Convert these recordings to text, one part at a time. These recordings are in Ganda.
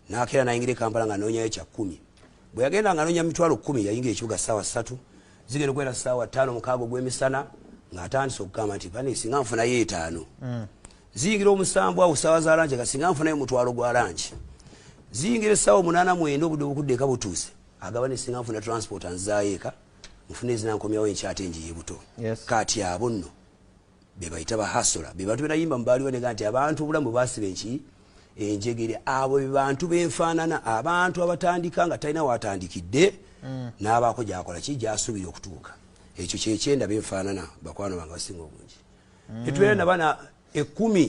nakeera nayingira ekampala nga nonyayo kyakumi bwe yagenda nga nonya mitwalo kumi yayingira ekibuga saawa satu zigenda okubeera saawa tano mukaaga ogwemisana ngaatandise okugamba nti bane singa nfunayo etaano mm. ziyingira omusanvu awo saawa za langi kasinga nfunayo omutwalo gwa langi ziyingira esaawa omunana mwenda obudde obukudde eka butuuse agaba nesinga nfuna transport anzaayo eka nfuna ezinankomyawo enkyate njiye buto kati abo nno bebayita ba hasula bebantu benayimba mubaaliwo nega nti abantu obulamu bwebasiba enki enjegere abo bebantu benfaanana abantu abatandika nga talina watandikidde mm. n'abaako gyakola ki gyasuubira okutuuka ekyo kyekyenda benfaanana bakwano bange basinga obungi mm. tetubeera nabana ekumi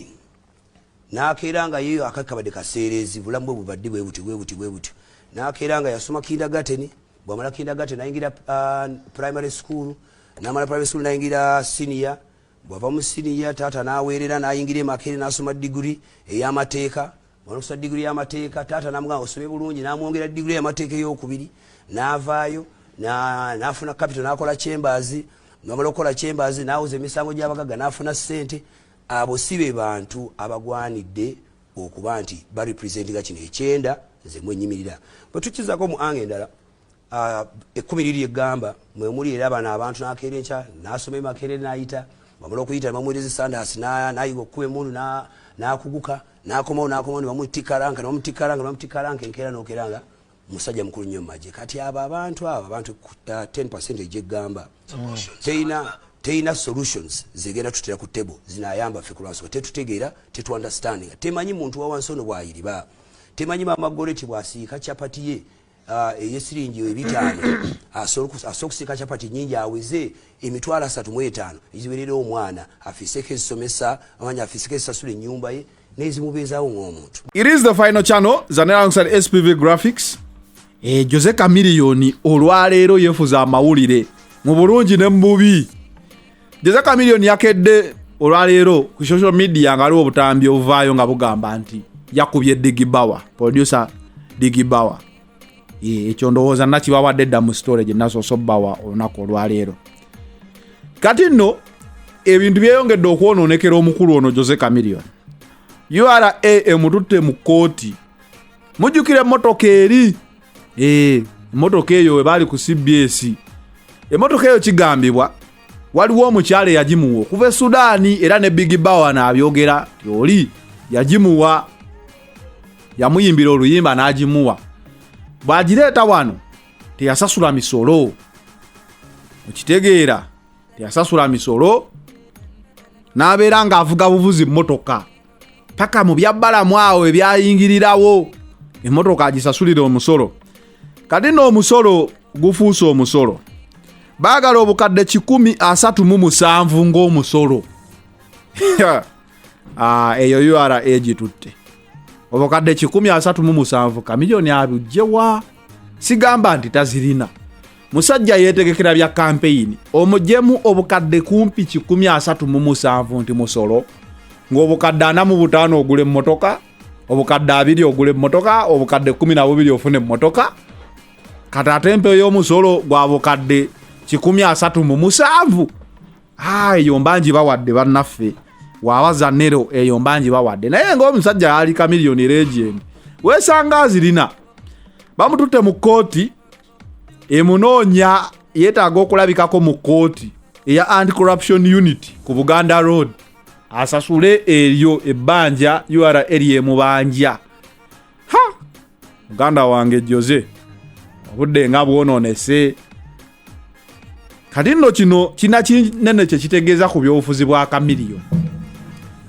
nakeera nga yeyo akati kabadde kaseereezi bulamu bwe bubadde bwe butyo bwe butyo bwe butyo nakeera nga yasoma kindagateni bwamala kindagateni nayingira uh, primary school namala primary school nayingira siniya bwava mu siniya taata naweerera nayingira emakere nasoma diguri eyamateeka bwanokusa diguri yamateeka taata namugamba osome bulungi namwongera diguri eyamateeka eyokubiri navaayo nafuna capital nakola chambers namala okukola chambers nawuza emisango gyabagaga nafuna sente Abo si be bantu abagwanidde okuba nti ba representinga kino ekyenda nze mwennyimirira. Bwe tukkizzako mu anga endala, ekkumi liri lye ggamba mwe muli era bano abantu n'akeera enkya n'asoma e Makerere n'ayita, bwamala okuyita ne bamuweereza essandaasi n'ayiga okukuba emmundu n'akuguka n'akomawo n'akomawo ne bamutikkaranka ne bamutikkaranka ne bamutikkaranka enkeera n'okeera nga musajja mukulu nnyo maje kati abo abantu abo abantu ku 10 percent egyegamba teyina teyina solutions zegenda tutera ku table zinayamba ffe kulwansonga tetutegeera tetuunderstandinga temanyi muntu wawansi ono bwayiriba temanyi maama goreti bwasiika chapati ye ah, eyesiringi ebitaano asobola okusiika chapati nyingi aweze emitwalo asatu mu etaano eziwerera omwana afiiseko ezisomesa amanya afiiseko ezisasula ennyumba ye nezimubeezawo ng'omuntu it is the final channel zanera alongside spv graphics eh, jose kamiliyoni olwaleero yefuza amawulire mu bulungi ne mububi jose kamiliyoni yakedde olwaleero ku social media nga aliwo obutambi obuvaayo nga bugamba nti yakubye digibawa producer digibawa ekyo ndowooza nakibawadde dda mu sitore gye nasoose obbawa olunaku olwaleero kati nno ebintu byeyongedde okwonoonekera omukulu ono jose camilion ura emututte mu kkooti mujjukira emmotoka eri eh, emmotoka eyo we baali ku cbs emmotoka eyo kigambibwa waliwo omukyala eyagimuwa okuva e sudaani era ne big bawa naabyogera ti oli yagimuwa yamuyimbira oluyimba n'agimuwa bw'agireeta wano teyasasula misolo okitegeera teyasasula misolo n'abeera ng'avuga buvuzi mmotoka paka mu byabbalamu awo ebyayingirirawo emmotoka agisasulira omusolo kati n'omusolo gufuuse omusolo baagala obukadde kikumi asatu mu musanvu ng'omusolo ah, eyo ura gitutte obukadde 137 kamiliyoni abujjewa sigamba nti tazirina musajja yetegekera bya kampeyini omujemu obukadde kumpi 137 nti musolo ng'obukadde ana mu butaano ogula emmotoka obukadde abiri ogula emmotoka obukadde 12 ofuna emmotoka kati ate empeyo y'omusolo gwa bukadde 137 ah, eyo mbangi bawadde bannaffe waba zanero eyo mbangi bawadde naye ngaomusajja yali kamiliyoni regeni wesanga azirina bamututte mu kkooti emunoonya yetaaga okulabikako mu kkooti eya anti corruption unit ku buganda road asasule eryo ebbanja ura eryemubanja ha muganda wange jose obudde nga bwononese kati nno kino kina kinene kyekitegeeza ku byobufuzi bwa kamiliyo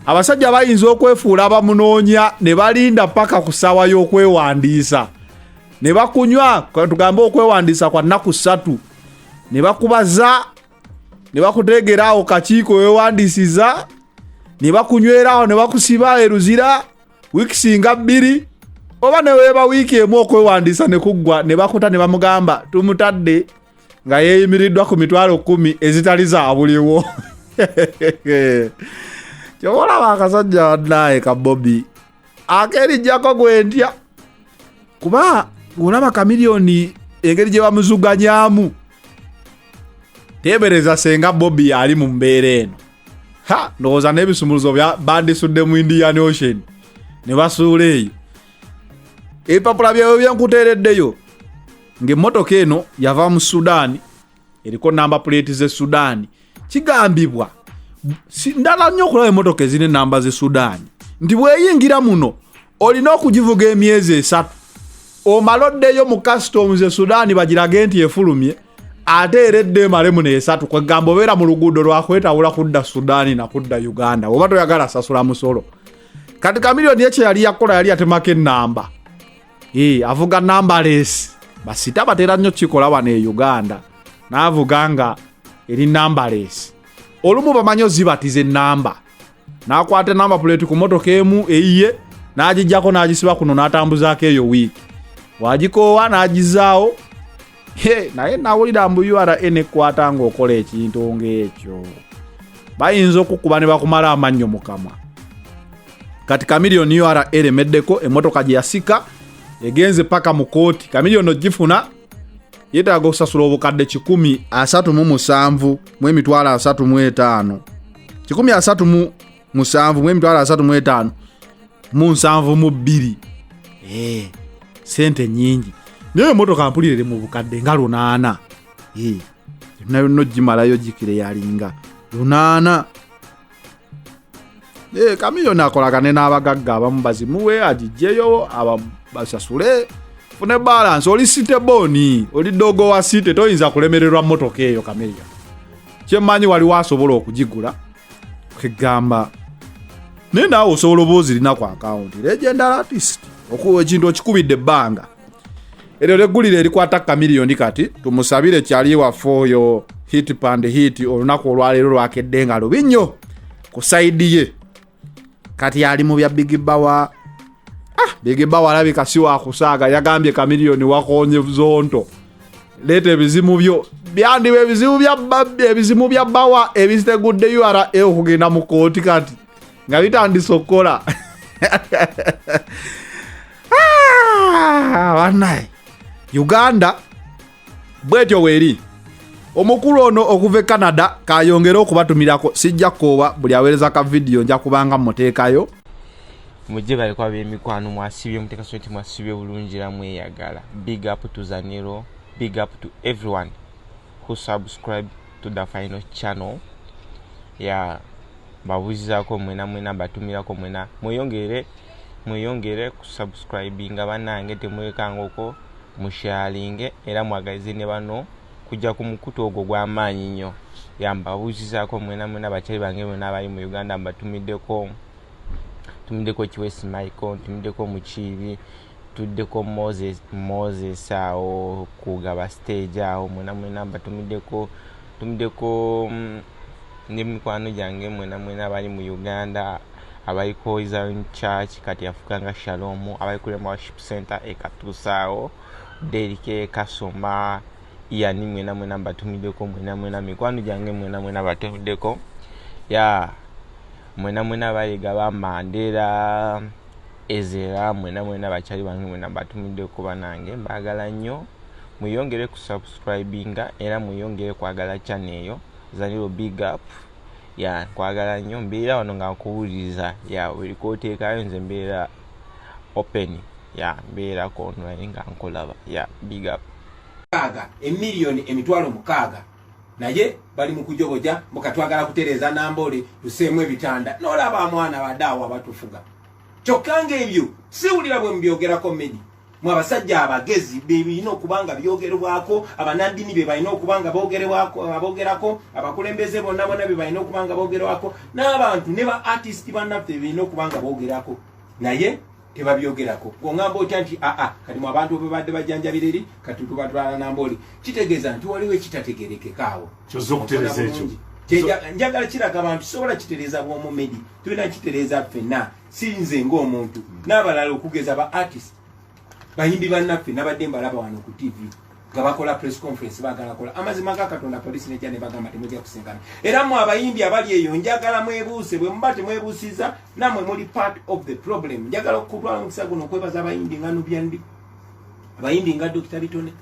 abasajja bayinza okwefuula abamunoonya ne balinda paka ku ssaawa y'okwewandiisa ne bakunywa tugambe okwewandiisa kwa nnaku ssatu ne bakubaza ne bakuteegera awo kakiiko wewandiisiza ne bakunyweraawo ne bakusiba eruzira wiiki singa bbiri oba neweeba wiiki emu okwewandiisa ne kuggwa ne bakuta ne bamugamba tumutadde nga yeeyimiriddwa ku mitwalo kumi ezitali zabuliwo kyoba olaba akasajja wannaye ka bobi akerijjako gwentya kuba olaba kamiliyoni engeri gye bamuzuganyamu teebereza senga bobi ali mu mbeera eno ha ndowooza n'ebisumuluzo bandisudde mu indian ocean ne basuula eyo ebipapula byawe byenkuteereddeyo ng'emmotoka eno yava mu sudaani eriko namba puleeti z'e sudaani kigambibwa ndala nnyo okulaba emmotoka ezirina enamba z'e sudaani nti bweyingira muno olina okugivuga emyezi esatu omala oddeyo mu customs e sudaani bagirage nti efulumye ate era edda emalemu neesatu kwegamba obeera mu luguudo lwakwetawula kudda sudaani nakudda uganda oba toyagala sasula musolo kati kamiliyoni ekyo yali yakola yali yatemako enamba e, avuga namba les basita batera nnyo kikola wano e uganda naavuga nga eri namba les olumu bamanyi ozibatiza enamba n'akwata namba puleeti ku motoka emu eyiye n'agijjako n'agisiba kuno n'atambuzaako eyo wiiki wagikoowa n'agizaawo naye nawulira mbu ura enekwata ng'okola ekintu ng'ekyo bayinza okukuba ne bakumala amannyo mu kamwa kati kamiliyoni ura eremeddeko emotoka gye yasika egenze paka mu kooti kamiliyoni ogifuna yeetaaga okusasula obukadde 1 asatu mu musanvu mu emitwalo asatu mu etaano kikumi asatu mu musanvu mu emitwalo asatu mu etaano mu nsanvu mu bbiri eh, sente nyingi naye emotoka mpulira eri mu bukadde nga lunaana eh, yonna yonna ogimalayo gikire yalinga lunaana Eh, kamiyoni akolagane n'abagagga abamu bazimuwe agijjeyo basasule fune balansi oli site boni oli dogo wa site toyinza kulemererwa motoka eyo kameya kyemmanyi waliwo asobola okugigula kegamba naye naawe osobola oba ozirina ku akawunti legend artist ekintu okikubidde ebbanga eryo leggulire erikwata kamiliyoni kati tumusabire kyali waffe oyo hit pand hit olunaku olwaleero lwakedde nga lubi nnyo ku saidi ye kati ali mu bya bigibawa ah, bigibawa alabika si wakusaaga yagambye kamiliyoni wakonye zonto leeta ebizimu byo byandiba ebizibu bya ebizimu bya bawa ebitegudde ura okugenda mu kooti kati nga bitandise okukola ah, banaye uganda bwetyo weeri omukulu ono okuva e canada kayongere okubatumirako sijja koowa buli aweereza ka vidiyo nja kubanga muteekayo mujje baleko ab'emikwano mwasibye muteeka so nti mwasibye bulungi era mweyagala big up to zaniro big up to everyone who subscribe to the final channel ya yeah. mbabuzizako mwena mwena mbatumirako mwena mweyongere mweyongere ku subscribinga banange temwekangako mushalinge era mwagalize ne bano kujja ku mukutu ogwo gw'amaanyi nnyo ya mbabuuzizako mwena mwena bakyali bange mwena abali mu uganda mbatumiddeko ntumiddeko kiwesi michael ntumiddeko mukiibi Tuddeko moses moses awo kugaba stage awo mwena mwena batumideko tumideko mm, ne mikwano gyange mwena mwena abali mu uganda abali ku hoizon church kati afuka nga shalom abali ku rema worship center ekatuusa awo derike kasoma yani mwena mwena batumideko mwena mwena mikwano gyange mwena mwena batumideko ya yeah. mwena mwena bayiga bamandera Ezo era mwena mwena bakyali bange mwena mbatumidde ko banange mbagala nnyo mweyongere ku subscribinga era mweyongere kwagala channel eyo Zanilo big up ya nkwagala nnyo mbeera wano nga nkuwuliriza ya buli kwoteekayo nze mbeera open ya mbeera ku online nga nkulaba ya big up mukaaga emiliyoni emitwalo mukaaga naye bali mukujoboja mukatwagala kutereza nambole tuseemu ebitanda nolaba amwana badaawo abatufuga kyokka ngaebyo siwulira bwe mubyogerako medi mwe abasajja abagezi bebirina okuba nga byogerwako abanandini be balina okuba nga bogerako abakulembeze bonna bona be balina okuba nga bogerwako n'abantu ne ba artist bannaffe bebirina okuba nga bogerako naye tebabyogerako ongamba otya nti aa ah, ah, kati mu abantu bebadde bajanjabira eri kati tubatwala nambooli kitegeeza nti waliwo ekitategerekekaawo kyoza okutereza ekyo njagala kiraga abantu sobola kitereeza bwomu medi tulina kitereeza ffenna sinze ngaomuntu n'abalala okugeza ba artist bayimbi bannaffe nabadde mbalaba wano ku tv nga bakola press conference bagala kola amazima ga katonda polisi nejja ne bagamba temujja kusengana era mu abayimbi abali eyo njagala mwebuuse bwe muba temwebuusiza namwe muli part of the problem njagala okutwala omukisa guno okwebaza abayimbi nga nubyandi abayimbi nga dokita bitone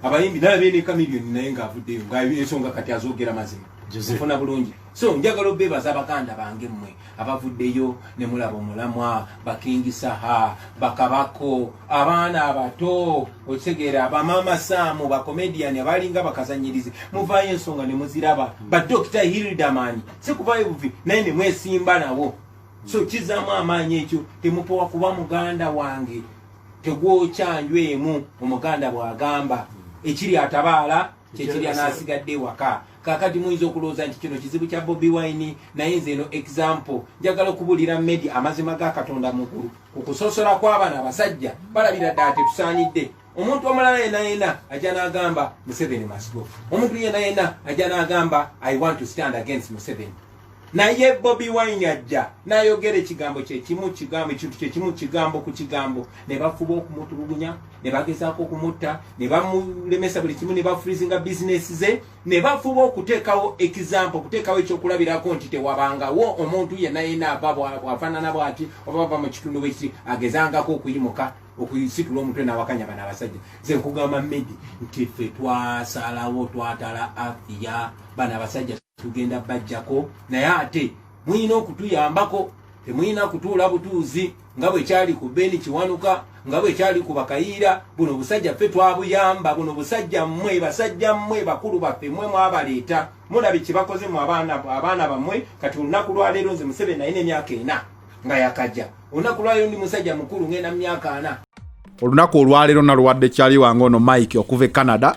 abayimbi nalabye ne kamilioni naye ngaavuddeyo nga ensonga kati azoogera mazima ofuna bulungi so njagala obebaza baganda bange mmwe abavuddeyo ne mulaba omulamwa bakingisaha bakabako abaana abato okitegeera bamaama saamu bakomediyani abalinga bakazanyirizi muvaayo ensonga ne muziraba badokita hildaman si kuvaayo buvi naye ne mwesimba nabo so kizaamu amaanyi ekyo temupowa kuba muganda wange tegwokyanjwemu omuganda bw'agamba ekiri atabaala kyekiri anasigadde ewaka kakati muyinza okulowooza nti kino kizibu kya bobi wine naye nze eno example njagala okubuulira medi amazima ga katonda mukulu ku kusosola kw'abana abasajja balabira ddala tetusaanidde omuntu omulala yena yena ajja n'agamba museveni masgo omuntu yena yena ajja n'agamba i want to stand against museveni naye bobi wine ajja nayogera ekigambo kyekimu kigambo ekintu kyekimu kigambo ku kigambo ne bafuba okumutulugunya ne bagezaako okumutta ne bamulemesa buli kimu ne bafrizinga bizinesi ze ne bafuba okuteekawo ekizampo okuteekawo ekyokulabirako nti tewabangawo omuntu yenna yena ava bwafaanana bwati oba bava mu kitundu bwekiti agezangako okuyimuka okuyisitula omutwe nawakanya bana abasajja ze nkugamba medi nti ffe twasalawo twatala afiya bana abasajja tugenda bajjako naye ate muyina okutuyambako temuyina kutuula butuuzi nga bwekyali ku beni kiwanuka nga bwekyali ku bakayiira buno busajja ffe twabuyamba buno busajja mmwe basajja mmwe bakulu baffe mmwe mwabaleeta mulabi kyebakoze mu abaana bammwe kati olunaku lwaleero nze museveni naye nemyaka ena nga yakajja olunaku lwaleero ndi musajja mukulu ngenda mu myaka ana olunaku olwaleero naluwadde kyali wange ono mike okuva e canada